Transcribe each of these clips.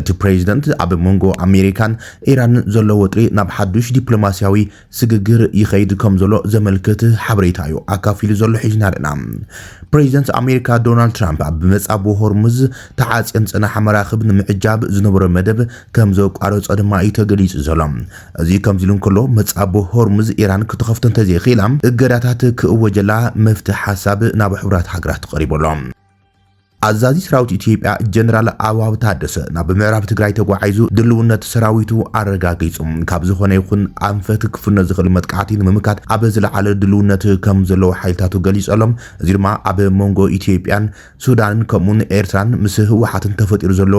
እቲ ፕሬዚደንት ኣብ መንጎ ኣሜሪካን ኢራንን ዘሎ ወጥሪ ናብ ሓዱሽ ዲፕሎማሲያዊ ስግግር ይኸይድ ከምዘሎ ዘመልክት ሓበሬታ እዩ ኣካፊሉ ዘሎ ሒዝና ኣለና። ፕሬዚደንት ኣሜሪካ ዶናልድ ትራምፕ ኣብ መጻብቦ ሆርሙዝ ተዓጽየን ዝጸናሓ መራኽብ ንምዕጃብ ዝነበሮ መደብ ከምዘቋረጾ ድማ እዩ ተገሊጹ ዘሎ። እዚ ከምዚ ኢሉ እንከሎ መጻብቦ ሆርሙዝ ኢራን ክትኸፍቶ እንተዘይኽኢላ እገዳታት ክእወጀላ መፍትሒ ሓሳብ ናብ ሕቡራት ሃገራት ቐሪቡ ኣሎ። ኣዛዚ ሰራዊት ኢትዮጵያ ጀነራል ኣበባው ታደሰ ናብ ምዕራብ ትግራይ ተጓዒዙ ድልውነት ሰራዊቱ ኣረጋጊጹ ካብ ዝኾነ ይኹን ኣንፈት ክፍኖ ዝኽእል መጥቃዕቲ ንምምካት ኣብ ዝለዓለ ድልውነት ከም ዘለዎ ሓይልታቱ ገሊጹ ኣሎ። እዚ ድማ ኣብ መንጎ ኢትዮጵያን ሱዳንን ከምኡውን ኤርትራን ምስ ህወሓትን ተፈጢሩ ዘሎ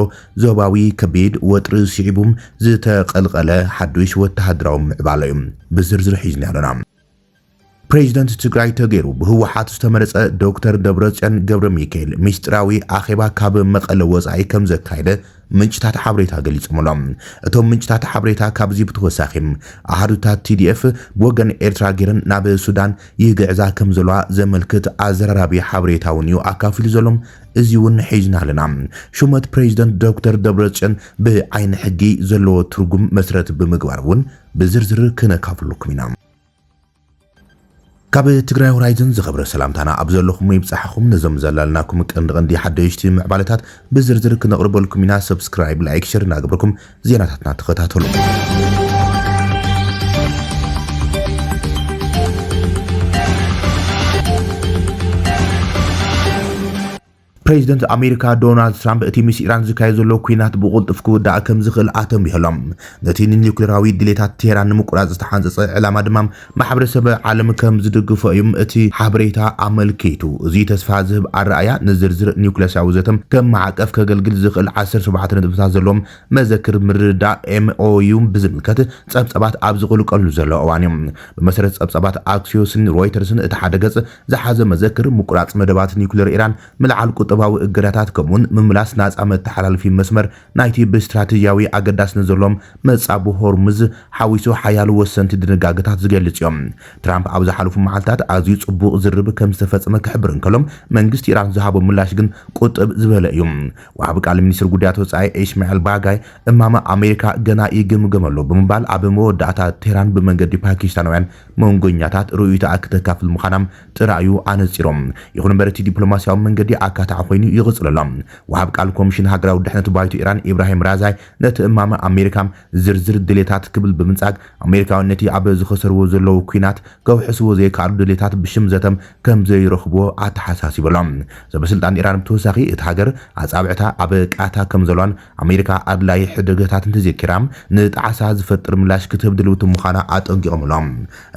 ዞባዊ ከቢድ ወጥሪ ስዒቡ ዝተቐልቐለ ሓዱሽ ወተሃደራዊ ምዕባለ'ዩ። ብዝርዝር ሒዝናዮ ኣለና። ፕሬዚደንት ትግራይ ተገይሩ ብህወሓት ዝተመረፀ ዶክተር ደብረፅዮን ገብረሚካኤል ሚስጢራዊ ኣኼባ ካብ መቐለ ወፃኢ ከምዘካየደ ምንጭታት ሓበሬታ ገሊፆም ኣሎም። እቶም ምንጭታት ሓበሬታ ካብዚ ብተወሳኺ ኣሃዱታት TDF ብወገን ኤርትራ ገይረን ናብ ሱዳን ይግዕዛ ከምዘለዋ ዘመልክት ኣዘራራቢ ሓበሬታ እውን እዩ ኣካፊሉ ዘሎም እዚ እውን ሒዝና ኣለና። ሹመት ፕሬዚደንት ዶክተር ደብረፅዮን ብዓይኒ ሕጊ ዘለዎ ትርጉም መሰረት ብምግባር እውን ብዝርዝር ክነካፍለኩም ኢና። ካብ ትግራይ ሆራይዝን ዝኸበረ ሰላምታና ኣብ ዘለኹሞ ይብጻሕኹም። ነዞም ዘላልናኩም ቀንዲ ቀንዲ ሓደሽቲ ምዕባለታት ብዝርዝር ክነቕርበልኩም ኢና። ሰብስክራይብ፣ ላይክ፣ ሸር እናገበርኩም ዜናታትና ተኸታተሉ። ፕሬዚደንት ኣሜሪካ ዶናልድ ትራምፕ እቲ ምስ ኢራን ዝካየድ ዘሎ ኲናት ብቕልጡፍ ክውዳእ ከምዝኽእል ኣተንቢሁ ኣሎ። ነቲ ንኒዩክሌራዊ ድሌታት ቴህራን ንምቁራጽ ዝተሓንጸጸ ዕላማ ድማ ማሕበረሰብ ዓለም ከምዝድግፎ እዩ እቲ ሓበሬታ ኣመልኪቱ። እዚ ተስፋ ዝህብ ኣረኣእያ፣ ንዝርዝር ኒዩክለስያዊ ዘተ ከም ማዕቀፍ ከገልግል ዝኽእል ዓሰርተ ሸውዓተ ነጥብታት ዘለዎ መዘክር ምርድዳእ፣ MOU፣ ብዝምልከት ጸብጻባት ኣብ ዝቕልቀልሉ ዘሎ እዋን እዩ። ብመሰረት ጸብጻባት ኣክሲዮስን ሮይተርስን እቲ ሓደ ገጽ ዝሓዘ መዘክር፣ ምቁራጽ መደባት ኒዩክለር ኢራን፣ ምልዓል ቁጠባዊ እገዳታት ከምኡ'ውን ምምላስ ናጻ መተሓላለፊ መስመር ናይቲ ብስትራተጂያዊ ኣገዳስነት ዘለዎም መጻብቦ ሆርሙዝ ሓዊሱ ሓያሎ ወሰንቲ ድንጋገታት ዝገልጽ እዩ። ትራምፕ ኣብ ዝሓለፉ መዓልታት ኣዝዩ ጽቡቕ ዝርርብ ከም ዝተፈጸመ ክሕብር እንከሎ፣ መንግስቲ ኢራን ዝሃቦ ምላሽ ግን ቁጥብ ዝበለ እዩ። ወሃቢ ቃል ሚኒስትሪ ጉዳያት ወጻኢ ኢስማዒል ባጋይ፣ እማመ ኣሜሪካ ገና ይግምገም ኣሎ ብምባል ኣብ መወዳእታ ቴህራን ብመንገዲ ፓኪስታናውያን መንጎኛታት ርእይቶኣ ክተካፍል ምዃና ጥራይ'ዩ ኣነጺሩ። ይኹን እምበር እቲ ዲፕሎማስያዊ መንገዲ ኣካታዒ ኮይኑ ይቕጽል ኣሎ። ወሃብ ቃል ኮሚሽን ሃገራዊ ድሕነት ባይቶ ኢራን ኢብራሂም ራዛይ ነቲ እማመ ኣሜሪካ ዝርዝር ድሌታት ክብል ብምንጻግ ኣሜሪካውያን ነቲ ኣብ ዝኸሰርዎ ዘለዉ ኲናት ከውሕስዎ ዘይከኣሉ ድሌታት ብሽም ዘተ ከምዘይረኽብዎ ኣተሓሳሲቡ ኣሎ። ሰበስልጣን ኢራን ብተወሳኺ እታ ሃገር ኣጻብዕታ ኣብ ቃታ ከምዘለዋን ኣሜሪካ ኣድላዪ ሕደገታት እንተዘይገይራ ንጣዕሳ ዝፈጥር ምላሽ ክትህብ ድልውቲ ምዃና ኣጠንቂቖም'ሎ።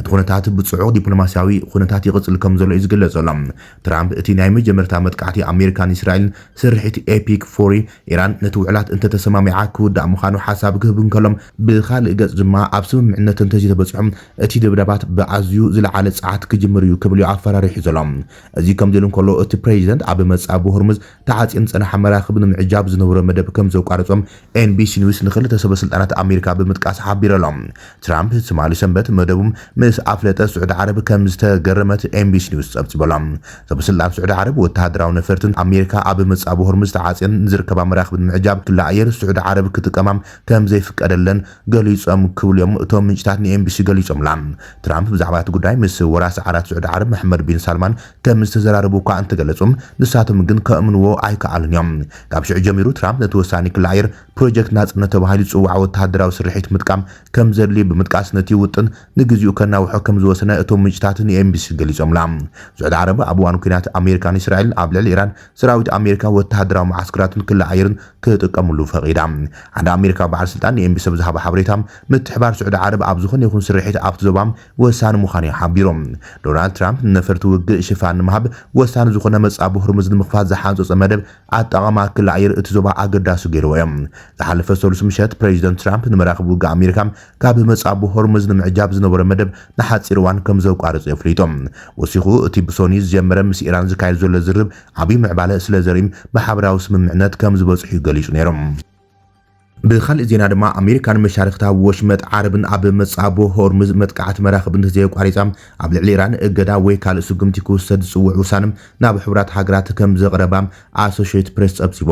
እቲ ኩነታት ብጽዑቕ ዲፕሎማስያዊ ኩነታት ይቕጽል ከምዘሎ እዩ ዝግለጽ ዘሎ። ትራምፕ እቲ ናይ መጀመርታ መጥቃዕቲ ኣሜሪካ ንእስራኤል ስርሒት ኤፒክ ፉሪ፣ ኢራን ነቲ ውዕላት እንተተሰማሚዓ ክውዳእ ምዃኑ ሓሳብ ክህብ እንከሎ፣ ብኻልእ ገጽ ድማ ኣብ ስምምዕነት እንተዘይተበጽሑ እቲ ደብዳባት ብኣዝዩ ዝለዓለ ጸዓት ክጅምር እዩ ክብል'ዩ ኣፈራሪሑ ዘሎ። እዚ ከምዚ'ሉ እንከሎ እቲ ፕረዚደንት ኣብ መጻብቦ ሆርሙዝ ተዓጽየን ዝጸንሓ መራኽብ ንምዕጃብ ዝነበሮ መደብ ከም ዘቋረጾም ኤንቢሲ ኒውስ ንኽልተ ሰበስልጣናት ኣሜሪካ ብምጥቃስ ሓቢሩ'ሎ። ትራምፕ ትማሊ ሰንበት መደቡም ምስ ኣፍለጠ ስዑዲ ዓረብ ከም ዝተገረመት ኤንቢሲ ኒውስ ጸብጺቡ'ሎ። ሰበስልጣን ስዑዲ ዓረብ ወተሃደራዊ ነፈርትን ኣሜሪካ ኣብ መጻብቦ ሆርሙዝ ተዓጽየን ንዝርከባ መራኽብ ንምዕጃብ ክሊ ኣየር ስዑዲ ዓረብ ክጥቀማ ከም ዘይፍቀደለን ገሊጾም ክብሉ'ዮም እቶም ምንጭታት ንኤንቢሲ ገሊጾምላ። ትራምፕ ብዛዕባ እቲ ጉዳይ ምስ ወራሲ ዓራት ስዑዲ ዓረብ መሕመድ ቢን ሳልማን ከም ዝተዘራረቡ እኳ እንተገለጹ፣ ንሳቶም ግን ከእምኑዎ ኣይከኣሉን እዮም። ካብ ሽዑ ጀሚሩ ትራምፕ ነቲ ወሳኒ ክሊ ኣየር፣ ፕሮጀክት ናጽነት ተባሂሉ ዝጽዋዕ ወተሃደራዊ ስርሒት ምጥቃም ከም ዘድልዩ ብምጥቃስ ነቲ ውጥን ንግዚኡ ከናውሖ ከም ዝወሰነ እቶም ምንጭታት ንኤንቢሲ ገሊጾምላ። ስዑዲ ዓረብ ኣብ እዋን ኲናት ኣሜሪካን እስራኤልን ኣብ ልዕሊ ኢራን ሰራዊት ኣሜሪካ፣ ወተሃደራዊ መዓስከራትን ክሊ ኣየርን ክጥቀምሉ ፈቒዳ። ሓደ ኣሜሪካዊ በዓል ስልጣን ንኤንቢሲ ኣብ ዝሃቦ ሓበሬታ፣ ምትሕብባር ስዑዲ ዓረብ ኣብ ዝዀነ ይዅን ስርሒት ኣብቲ ዞባ ወሳኒ ምዃኑ'ዩ ሓቢሩ። ዶናልድ ትራምፕ ንነፈርቲ ውግእ ሽፋን ንምሃብ ወሳኒ ዝኾነ መጻብቦ ሆርሙዝ ንምኽፋት ዝሓንጸጾ መደብ ኣጠቓቕማ ክሊ ኣየር እቲ ዞባ ኣገዳሲ ገይርዎ'ዩ። ዝሓለፈ ሰሉስ ምሸት ፕረዚደንት ትራምፕ ንመራኽብ ውግእ ኣሜሪካ ካብ መጻብቦ ሆርሙዝ ንምዕጃብ ዝነበሮ መደብ ንሓጺር እዋን ከምዘቋረጾ ኣፍሊጡ። ወሲኹ እቲ ብሶኑይ ዝጀመረ ምስ ኢራን ዝካየድ ዘሎ ዝርርብ ዓብይ ምዕባለ ስለዘርእይ ብሓበራዊ ስምምዕነት ከምዝበጽሑ'ዩ ገሊጹ ነይሩ። ብኻሊእ ዜና ድማ ኣሜሪካን መሻርኽታ ኣብ ወሽመጥ ዓረብን ኣብ መጻብቦ ሆርምዝ መጥቃዕቲ መራኽብ እንተዘየቋሪጻ ኣብ ልዕሊ ኢራን እገዳ ወይ ካልእ ስጉምቲ ክውሰድ ዝጽውዕ ውሳነ ናብ ሕቡራት ሃገራት ከምዘቕረባ ኣሶሸይት ፕሬስ ጸብጺቡ።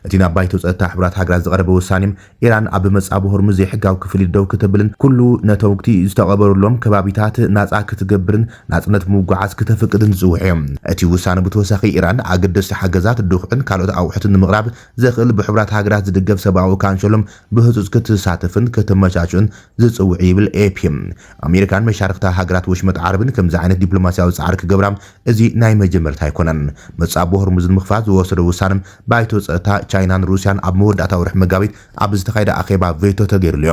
እቲ ናብ ባይቶ ጸጥታ ሕቡራት ሃገራት ዝቐረበ ውሳኔ ኢራን ኣብ መጻብቦ ሆርምዝ ዘይሕጋዊ ክፍሊት ደው ክትብልን ኩሉ ነተውግቲ ዝተቐበሩሎም ከባቢታት ናጻ ክትገብርን ናጽነት ምጉዓዝ ክተፍቅድን ዝጽውዕዮ። እቲ ውሳነ ብተወሳኺ ኢራን ኣገደስቲ ሓገዛት፣ ድኹዒን ካልኦት ኣቑሑትን ንምቕራብ ዘኽእል ብሕቡራት ሃገራት ዝድገፍ ሰብኣዊ ካንሸሎም ብህጹጽ ክትሳተፍን ከተመቻችእን ዝጽውዕ እዩ ይብል ኤፒ። ኣሜሪካን መሻርኽታ ሃገራት ወሽመጥ ዓረብን ከምዚ ዓይነት ዲፕሎማስያዊ ጻዕሪ ክገብራ እዚ ናይ መጀመርታ ኣይኮነን። መጻብቦ ሆርሙዝ ንምኽፋት ዝወሰዶ ውሳነ ባይቶ ጸጥታ ቻይናን ሩስያን ኣብ መወዳእታ ወርሒ መጋቢት ኣብ ዝተኻየደ ኣኼባ ቬቶ ተገይርሉዮ።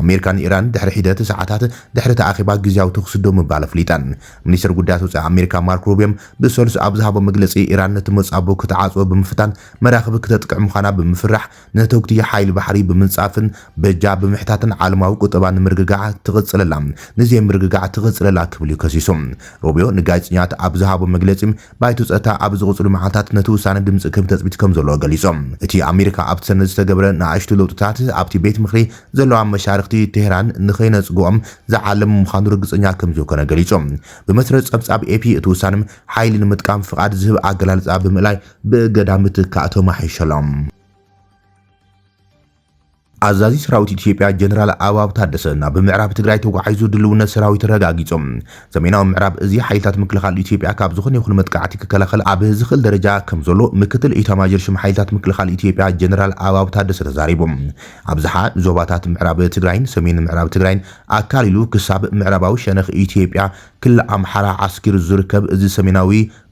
ኣሜሪካ ንኢራን ድሕሪ ሒደት ሰዓታት ድሕሪ እቲ ኣኼባ ግዝያዊ ተኹሲ ደው ምባል ኣፍሊጠን። ሚኒስተር ጉዳያት ወጻኢ ኣሜሪካ ማርክ ሩብዮም ብሰሉስ ኣብ ዝሃቦ መግለጺ፣ ኢራን ነቲ መጻብቦ ክትዓጽዎ ብምፍታን መራኽብ ክተጥቅዕ ምዃና ብምፍራሕ ንነተጕቲ ሓይሊ ባሕሪ ብምንጻፍን በጃ ብምሕታትን ዓለማዊ ቍጠባ ንምርግጋዕ ትቕጽለላ ንዘይምርግጋዕ ትቕጽለላ ክብል'ዩ ከሲሱ። ሩብዮ ንጋዜጠኛታት ኣብ ዝሃቦ መግለጺ፣ ባይቶ ጸጥታ ኣብ ዝቕጽሉ መዓልታት ነቲ ውሳነ ድምጺ ክህብ ተጽቢት ከምዘለዎ ገሊጾም። እቲ ኣሜሪካ ኣብቲ ሰነድ ዝተገብረ ንኣሽቱ ለውጥታት ኣብቲ ቤት ምኽሪ ዘለዋ መሻርኽቲ ቴህራን ንኸይነጽግኦም ዝዓለመ ምዃኑ ርግጸኛ ከምዘይኮነ ገሊጹ። ብመሰረት ጸብጻብ ኤፒ እቲ ውሳነ ሓይሊ ንምጥቃም ፍቓድ ዝህብ ኣገላልጻ ብምእላይ ብእገዳ ምትካእ ተማሕይሹ ኣሎ። ኣዛዚ ሰራዊት ኢትዮጵያ ጀነራል ኣበባው ታደሰ ናብ ምዕራብ ትግራይ ተጓዒዙ ድልውነት ሰራዊት ረጋጊጾም። ሰሜናዊ ምዕራብ እዚ ሓይልታት ምክልኻል ኢትዮጵያ ካብ ዝኾነ ይኹን መጥቃዕቲ ክከላኸል ኣብ ዝኽእል ደረጃ ከምዘሎ ምክትል ኢታማዦር ሹም ሓይልታት ምክልኻል ኢትዮጵያ ጀነራል ኣበባው ታደሰ ተዛሪቦም። ኣብዝሓ ዞባታት ምዕራብ ትግራይን ሰሜን ምዕራብ ትግራይን ኣካሊሉ ክሳብ ምዕራባዊ ሸነኽ ኢትዮጵያ ክልል ኣምሓራ ዓስኪሩ ዝርከብ እዚ ሰሜናዊ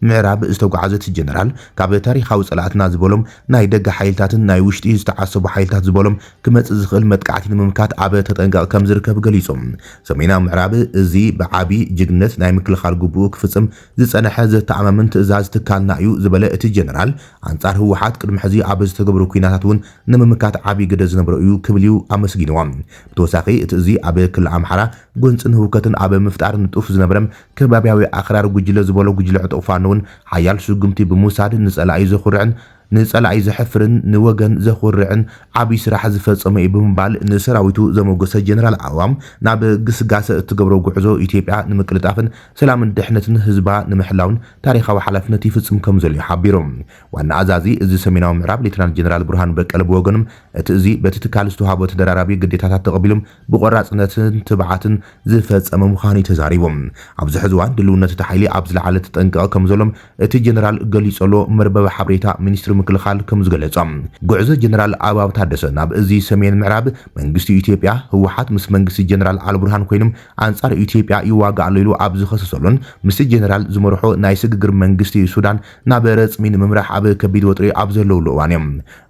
ምዕራብ ዝተጓዓዘት ጀነራል ካብ ታሪኻዊ ጸላእትና ዝበሎም ናይ ደገ ሓይልታትን ናይ ውሽጢ ዝተዓሰቡ ሓይልታት ዝበሎም ክመጽእ ዝኽእል መጥቃዕቲ ንምምካት ኣብ ተጠንቀቕ ከም ዝርከብ ገሊጾም። ሰሜናዊ ምዕራብ እዚ ብዓቢ ጅግንነት ናይ ምክልኻል ግቡኡ ክፍጽም ዝጸነሐ ዘተኣማምን ትእዛዝ ትካልና እዩ ዝበለ እቲ ጀነራል ኣንጻር ህወሓት ቅድሚ ሕዚ ኣብ ዝተገብሩ ኲናታት እውን ንምምካት ዓቢ ግደ ዝነበሮ እዩ ክብል እዩ ኣመስጊንዎ። ብተወሳኺ እቲ እዚ ኣብ ክሊ ኣምሓራ ጎንጽን ህውከትን ኣብ ምፍጣር ንጡፍ ዝነበረ ከባብያዊ ኣኽራሪ ጉጅለ ዝበሎ ጉጅለ ዕጡቕ ፋኖ'ውን ሓያል ስጉምቲ ብምውሳድ ንጸላኢ ዘኹርዕን ንጸላኢ ዘሕፍርን ንወገን ዘኹርዕን ዓብይ ስራሕ ዝፈጸመ'ዩ ብምባል ንሰራዊቱ ዘሞገሰ ጀነራል ኣዕዋም፣ ናብ ግስጋሰ እትገብሮ ጉዕዞ ኢትዮጵያ ንምቅልጣፍን ሰላምን ድሕነትን ህዝባ ንምሕላውን ታሪኻዊ ሓላፍነት ይፍጽም ከምዘሎ'ዩ ሓቢሩ። ዋና ኣዛዚ እዚ ሰሜናዊ ምዕራብ ሌተናል ጀነራል ብርሃኑ በቀለ ብወገኖም፣ እቲ እዚ በቲ ትካል ዝተውሃቦ ተደራራቢ ግዴታታት ተቐቢሎም ብቖራፅነትን ትብዓትን ዝፈፀመ ምዃኑ'ዩ ተዛሪቡ። ኣብዚ ሕዚ እዋን ድልውነት እቲ ሓይሊ ኣብ ዝለዓለ ተጠንቀቐ ከምዘሎም እቲ ጀነራል ገሊፁ'ሎ መርበብ ሓበሬታ ሚኒስትሪ ምክልኻል ከምዝገለፆ ጉዕዞ ጀነራል ኣበባው ታደሰ ናብ እዚ ሰሜን ምዕራብ መንግስቲ ኢትዮጵያ ህወሓት ምስ መንግስቲ ጀነራል ኣልቡርሃን ኮይኑ ኣንፃር ኢትዮጵያ ይዋጋእ ኣሎ ኢሉ ኣብ ዝኸሰሰሉን ምስቲ ጀነራል ዝመርሖ ናይ ስግግር መንግስቲ ሱዳን ናብ ረፅሚ ንምምራሕ ኣብ ከቢድ ወጥሪ ኣብ ዘለውሉ እዋን'ዩ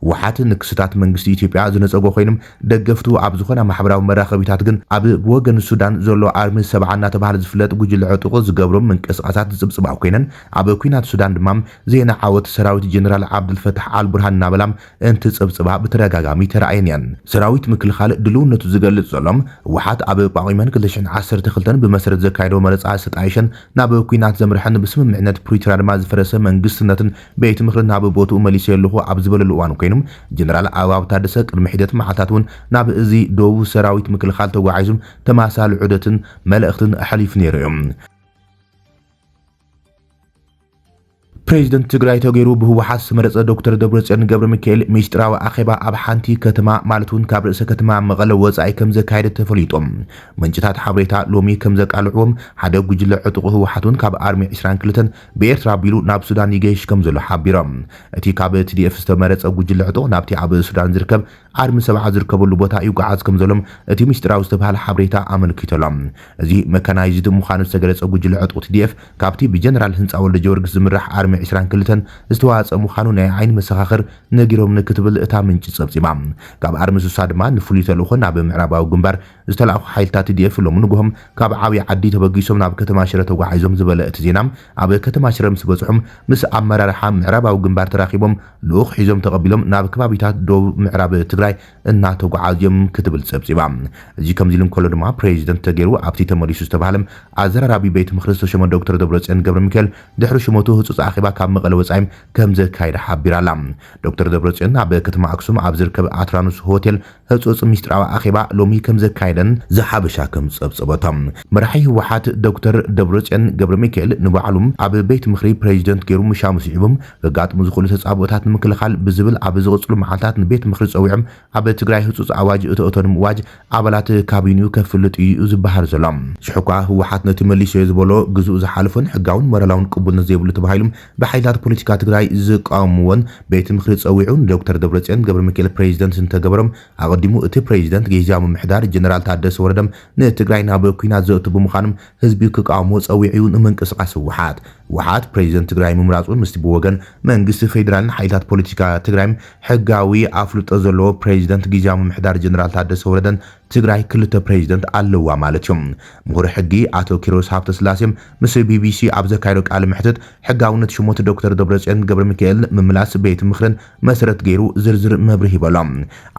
ህወሓት ንክስታት መንግስቲ ኢትዮጵያ ዝነፀጎ ኮይኑ ደገፍቱ ኣብ ዝኾና ማሕበራዊ መራኸቢታት ግን ኣብ ብወገን ሱዳን ዘሎ ኣርሚ ሰብዓ እናተብሃለ ዝፍለጥ ጉጅለ ዕጡቕ ዝገብሮ ምንቅስቓሳት ዝጽብጽባ ኮይነን ኣብ ኲናት ሱዳን ድማ ዜና ዓወት ሰራዊት ጀነራል ዓብደልፈታሕ ኣልቡርሃን እናበላ እንትጽብጽባ ብተደጋጋሚ ተራእየን እየን። ሰራዊት ምክልኻል ድልውነቱ ዝገልጽ ዘሎ፣ ህወሓት ኣብ ጳጉሜን ክልተ ሽሕን ዓሰርተ ክልተን ብመሰረት ዘካየዶ መረጻ ዝተጣየሸን ናብ ኲናት ዘምርሐን ብስምምዕነት ፕሪቶርያ ድማ ዝፈረሰ መንግስትነትን ቤት ምኽሪ ናብ ቦትኡ መሊሰዮ ኣለኹ ኣብ ዝበለሉ እዋን ኮይኑ፣ ጀነራል ኣበባው ታደሰ ቅድሚ ሒደት መዓልታት እውን ናብ እዚ ዶብ ሰራዊት ምክልኻል ተጓዒዙ ተመሳሳሊ ዑደትን መልእኽትን ኣሕሊፉ ነይሩ እዩ። ፕሬዚደንት ትግራይ ተገይሩ ብህወሓት ዝተመረፀ ዶክተር ደብረፅዮን ገብረሚካኤል ሚስጢራዊ ኣኼባ ኣብ ሓንቲ ከተማ ማለት እውን ካብ ርእሰ ከተማ መቐለ ወፃኢ ከምዘካየደ ተፈሊጡ። ምንጭታት ሓበሬታ ሎሚ ከምዘቃልዕዎም ሓደ ጉጅለ ዕጡቕ ህወሓት እውን ካብ ኣርሚ ዕስራን ክልተን ብኤርትራ ኣቢሉ ናብ ሱዳን ይገይሽ ከምዘሎ ሓቢሮም። እቲ ካብ ትዲኤፍ ዝተመረጸ ጉጅለ ሕጦ ናብቲ ኣብ ሱዳን ዝርከብ ኣርሚ ሰብዓ ዝርከበሉ ቦታ ይጉዓዝ ከምዘሎም እቲ ምስጢራዊ ዝተብሃለ ሓበሬታ ኣመልኪቱ'ሎ። እዚ መካናይዝድ ምዃኑ ዝተገለጸ ጉጅለ ሕጦ ትዲኤፍ ካብቲ ብጀነራል ህንጻ ወልደጀወርግስ ዝምራሕ ኣርሚ ዕስራን ክልተን ዝተዋጸ ምዃኑ ናይ ዓይኒ መሰኻኽር ነጊሮምኒ ክትብል እታ ምንጪ ጸብጺባ። ካብ ኣርሚ ሱሳ ድማ ንፍሉይ ተልእኾ ናብ ምዕራባዊ ግንባር ዝተላእኩ ሓይልታት ቲዲኤፍ ሎሚ ንጉሆም ካብ ዓብይ ዓዲ ተበጊሶም ናብ ከተማ ሽረ ተጓዒዞም ዝበለ እቲ ዜና፣ ኣብ ከተማ ሽረ ምስ በፅሑም ምስ ኣመራርሓ ምዕራባዊ ግንባር ተራኺቦም ልኡኽ ሒዞም ተቐቢሎም ናብ ከባቢታት ደቡብ ምዕራብ ትግራይ እናተጓዓዙ እዮም ክትብል ፀብፂባ። እዚ ከምዚ ኢሉ እንከሎ ድማ ፕሬዚደንት ተገይሩ ኣብቲ ተመሊሱ ዝተብሃለ ኣዘራራቢ ቤት ምኽሪ ዝተሾመ ዶክተር ደብረፅዮን ገብረሚካኤል ድሕሪ ሹመቱ ህፁፅ ኣኼባ ካብ መቐለ ወፃኢ ከምዘካየደ ሓቢራ ኣላ። ዶክተር ደብረፅዮን ኣብ ከተማ ኣክሱም ኣብ ዝርከብ ኣትራኖስ ሆቴል ህፁፅ ሚስጥራዊ ኣኼባ ሎሚ ከምዘካየደን ዘሓበሻ ከም ፀብፀበቶ፣ መራሒ ህወሓት ዶክተር ደብረፅዮን ገብረሚካኤል ንባዕሉ ኣብ ቤት ምኽሪ ፕሬዚደንት ገይሩ ምሻሙ ስዒቡ ከጋጥሙ ዝኽእሉ ተፃብኦታት ንምክልኻል ብዝብል ኣብ ዝቕፅሉ መዓልታት ንቤት ምኽሪ ፀዊዑ ኣብ ትግራይ ህፁፅ ኣዋጅ እቶእቶ ንምእዋጅ ኣባላት ካቢንኡ ከፍልጥ እዩ ዝበሃል ዘሎ። ሽሕኳ ህወሓት ነቲ መሊሰዮ ዝበሎ ግዝኡ ዝሓለፎን ሕጋውን ሞራላውን ቅቡልነት ዘይብሉ ተባሂሉ ብሓይልታት ፖለቲካ ትግራይ ዝቃወምዎን ቤት ምኽሪ ፀዊዑ ንዶክተር ደብረፅዮን ገብረሚካኤል ፕሬዚደንት እንተገበሮም ኣቐዲሙ እቲ ፕሬዚደንት ጊዚያዊ ምምሕዳር ጀነራል ታደሰ ወረደ ንትግራይ ናብ ኩናት ዘእቱ ብምዃኖም ህዝቢ ክቃወሞ ፀዊዑ እዩ ንምንቅስቓስ ህወሓት ህወሓት ፕሬዚደንት ትግራይ ምምራፁ ምስቲ ብወገን መንግስቲ ፌዴራልን ሓይልታት ፖለቲካ ትግራይን ሕጋዊ ኣፍልጦ ዘለዎ ፕሬዚደንት ጊዚያዊ ምምሕዳር ጀነራል ታደሰ ወረደን ትግራይ ክልተ ፕሬዚደንት ኣለዋ ማለት እዩ ምሁር ሕጊ ኣቶ ኪሮስ ሃብተስላሴ ምስ ቢቢሲ ኣብ ዘካየዶ ቃለ መሕትት፣ ሕጋውነት ሽሞት ዶክተር ደብረጽዮን ገብረሚካኤልን ምምላስ ቤት ምኽርን መሰረት ገይሩ ዝርዝር መብርሂ ሂበሎ።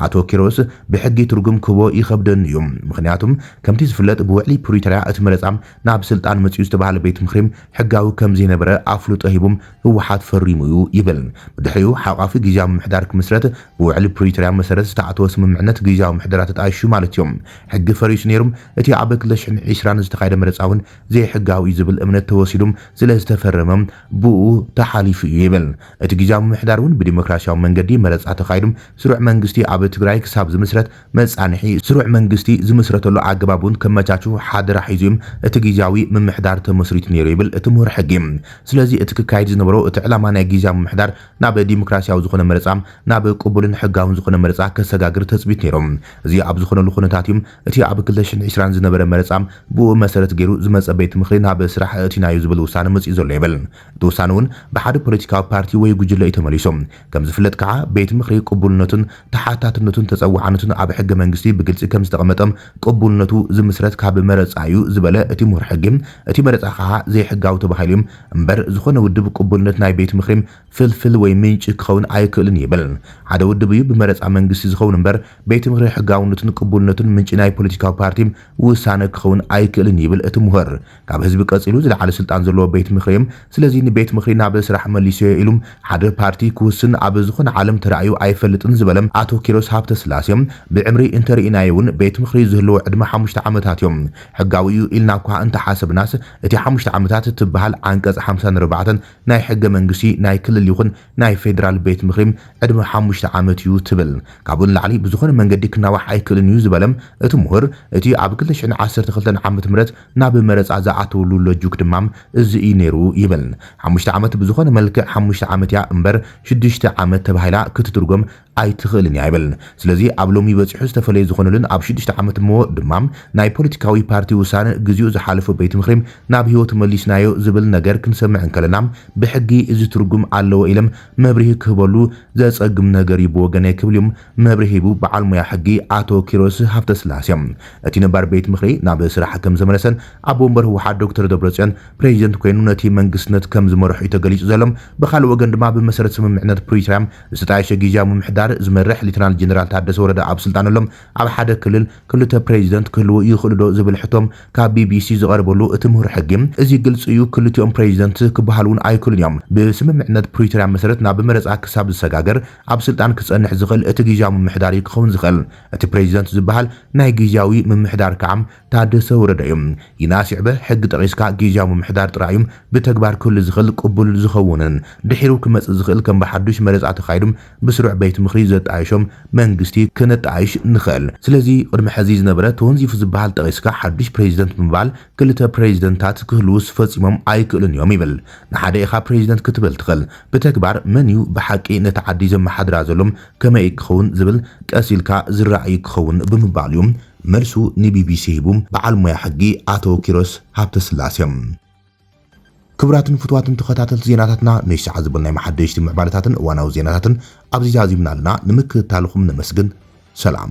ኣቶ ኪሮስ፣ ብሕጊ ትርጉም ክህቦ ይኸብደኒ'ዩ። ምኽንያቱ ከምቲ ዝፍለጥ ብውዕሊ ፕሪቶርያ እቲ መረጻ ናብ ስልጣን መጺኡ ዝተባህለ ቤት ምኽሪ ሕጋዊ ከም ዘይነበረ ኣፍልጦ ሂቡ ህወሓት ፈሪሙ'ዩ ይብል። ብድሕሪኡ ሓቋፊ ግዝያዊ ምምሕዳር ክምስረት ብውዕሊ ፕሪቶርያ መሰረት ዝተኣተወ ስምምዕነት ግዝያዊ ምሕደራ ተጣይሹ ማለት'ዩ። ሕጊ ፈሪሱ ነይሩ፣ እቲ ኣብ ክልተ ሽሕን ዕስራን ዝተኻየደ መረጻ'ውን ዘይሕጋዊ ዝብል እምነት ተወሲዱ ስለ ዝተፈረመ ብኡ ተሓሊፉ እዩ ይብል። እቲ ግዝያዊ ምምሕዳር እውን ብዲሞክራስያዊ መንገዲ መረፃ ተኻይዱ ስሩዕ መንግስቲ ኣብ ትግራይ ክሳብ ዝምስረት መፃንሒ ስሩዕ መንግስቲ ዝምስረተሉ ኣገባብ እውን ከመቻቹ ሓደራ ሒዙ እዩ እቲ ግዝያዊ ምምሕዳር ተመስሪቱ ነይሩ ይብል እቲ ምሁር ሕጊ። ስለዚ እቲ ክካየድ ዝነበሮ እቲ ዕላማ ናይ ግዝያዊ ምምሕዳር ናብ ዲሞክራስያዊ ዝኾነ መረፃ ናብ ቅቡልን ሕጋውን ዝኾነ መረፃ ከሰጋግር ተፅቢት ነይሩ። እዚ ኣብ ዝኾነሉ ኩነታት እዩ እቲ ኣብ ክልተ ሽሕን ዕስራን ዝነበረ መረፃ ብኡኡ መሰረት ገይሩ ዝመፀ ቤት ምኽሪ ናብ ስራሕ ኣእቲናዮ ዝብል ውሳነ መፂኡ ዘሎ የብልን። እቲ ውሳነ እውን ብሓደ ፖለቲካዊ ፓርቲ ወይ ጉጅለ እዩ ተመሊሱ። ከምዝፍለጥ ከዓ ቤት ምኽሪ ቅቡልነቱን ተሓታትነቱን ተፀዋዕነቱን ኣብ ሕገ መንግስቲ ብግልፂ ከምዝተቐመጠ ቅቡልነቱ ዝምስረት ካብ መረፃ እዩ ዝበለ እቲ ምሁር ሕጊ እቲ መረፃ ከዓ ዘይሕጋዊ ተባሂሉ እዩ እምበር ዝኾነ ውድብ ቅቡልነት ናይ ቤት ምኽሪ ፍልፍል ወይ ምንጪ ክኸውን ኣይክእልን ይብል። ሓደ ውድብ እዩ ብመረፃ መንግስቲ ዝኸውን እምበር ቤት ምኽሪ ሕጋውነቱን ቅቡልነቱን ምንጪ ናይ ፖለቲካዊ ፓርቲ ውሳነ ክኸውን ኣይክእልን ይብል እቲ ሙሁር። ካብ ህዝቢ ቀፂሉ ዝለዓለ ስልጣን ዘለዎ ቤት ምኽሪ እዩም ስለዚ ንቤት ምኽሪ ናብ ስራሕ መሊሰዮ ኢሉ ሓደ ፓርቲ ክውስን ኣብ ዝኾነ ዓለም ተራእዩ ኣይፈልጥን ዝበለ ኣቶ ኪሮስ ሃብተስላሴ ብዕምሪ እንተርኢናዮ እውን ቤት ምኽሪ ዝህልዎ ዕድመ ሓሙሽተ ዓመታት እዩ። ሕጋዊ እዩ ኢልና እኳ እንተሓሰብናስ እቲ ሓሙሽተ ዓመታት ትበሃል ዓንቀፅ ሓምሳን ኣርባዕተን ናይ ሕገ መንግስቲ ናይ ክልል ይኹን ናይ ፌዴራል ቤት ምኽሪ ዕድመ ሓሙሽተ ዓመት እዩ ትብል። ካብኡ ንላዕሊ ብዝኾነ መንገዲ ክናዋሕ ኣይክእልን እዩ ዝበለ እቲ ሙሁር እቲ ኣብ ክልተ ሽሕን ዓሰርተ ክልተን ዓመተ ምህረት ናብ መረፃ ዝኣተውሉ ሎጁክ ድማ እዚ እዩ ነይሩ ይብል። ሓሙሽተ ዓመት ብዝኾነ መልክዕ ሓሙሽተ ዓመት እያ እምበር ሽዱሽተ ዓመት ተባሂላ ክትትርጎም ኣይትኽእልን እያ ይብል። ስለዚ ኣብ ሎሚ በጺሑ ዝተፈለየ ዝኾነሉን ኣብ ሽዱሽተ ዓመት እሞ ድማ ናይ ፖለቲካዊ ፓርቲ ውሳነ ግዚኡ ዝሓለፎ ቤት ምኽሪ ናብ ህይወቱ መሊስናዮ ዝብል ነገር ክንሰምዕ እንከለና ብሕጊ እዚ ትርጉም ኣለዎ ኢለም መብርሂ ክህበሉ ዘጸግም ነገር እዩ ብወገነይ ክብልዩ መብርሂ ሂቡ በዓል ሞያ ሕጊ ኣቶ ኪሮስ ሃፍተስላሴ እቲ ነባር ቤት ምኽሪ ናብ ስራሕ ከምዘመለሰን ኣቦ ወንበር ህወሓት ዶክተር ደብረጽዮን ፕሬዚደንት ኮይኑ ነቲ መንግስትነት ከምዝመርሕ'ዩ ተገሊጹ ዘሎ ብኻልእ ወገን ድማ ብመሰረት ስምምዕነት ፕሪቶርያ ዝተጣየሸ ጊዚያዊ ምምሕዳር ዝመርሕ ሊተናል ጀነራል ታደሰ ወረደ ኣብ ስልጣነሎም ኣብ ሓደ ክልል ክልተ ፕሬዚደንት ክህልዉ ይኽእሉዶ ዝብል ሕቶ ካብ ቢቢሲ ዝቐረበሉ እቲ ምሁር ሕጊ እዚ ግልፂ እዩ ክልቲኦም ፕሬዚደንት ክበሃሉ እውን ኣይክእሉን እዮም ብስምምዕነት ፕሪቶሪያ መሰረት ናብ መረፃ ክሳብ ዝሰጋገር ኣብ ስልጣን ክፀንሕ ዝኽእል እቲ ጊዚያዊ ምምሕዳር እዩ ክኸውን ዝኽእል እቲ ፕሬዚደንት ዝበሃል ናይ ጊዚያዊ ምምሕዳር ከዓ ታደሰ ወረደ እዩ ይናስ ይዕበ ሕጊ ጠቂስካ ጊዝያዊ ምምሕዳር ጥራይ እዩ ብተግባር ክህሉ ዝኽል ቅቡል ዝኸውንን ድሒሩ ክመጽእ ዝኽል ከም ብሓዱሽ መረጻ ተኻይዱ ብስሩዕ ቤት ምኽሪ ዘጣይሾም መንግስቲ ክነጣይሽ ንኽል ስለዚ ቅድሚ ሐዚ ዝነበረ ተወንዚፉ ዝብሃል ጠቂስካ ሓዱሽ ፕሬዚደንት ብምባል ክልተ ፕሬዚደንታት ክህልውስ ፈጺሞም ኣይክእሉን እዮም ይብል ንሓደ ኢኻ ፕሬዚደንት ክትብል ትኽል ብተግባር መን እዩ ብሓቂ ነታ ዓዲ ዘመሓድራ ዘሎ ከመይ ክኸውን ዝብል ቀስ ኢልካ ዝረኣይ ክኸውን ብምባሉ እዩ መልሱ ንቢቢሲ ሂቡ በዓል ሞያ ሕጊ ኣቶ ኪሮስ ሃብተስላሴ። ክቡራትን ፍቱዋትን ተኸታተልቲ ዜናታትና ነዚ ሰዓት ዝበልናዮም ሓደሽቲ ምዕባለታትን እዋናዊ ዜናታትን ኣብዚ ዛዚምና ኣለና። ንምክትታልኹም ነመስግን። ሰላም።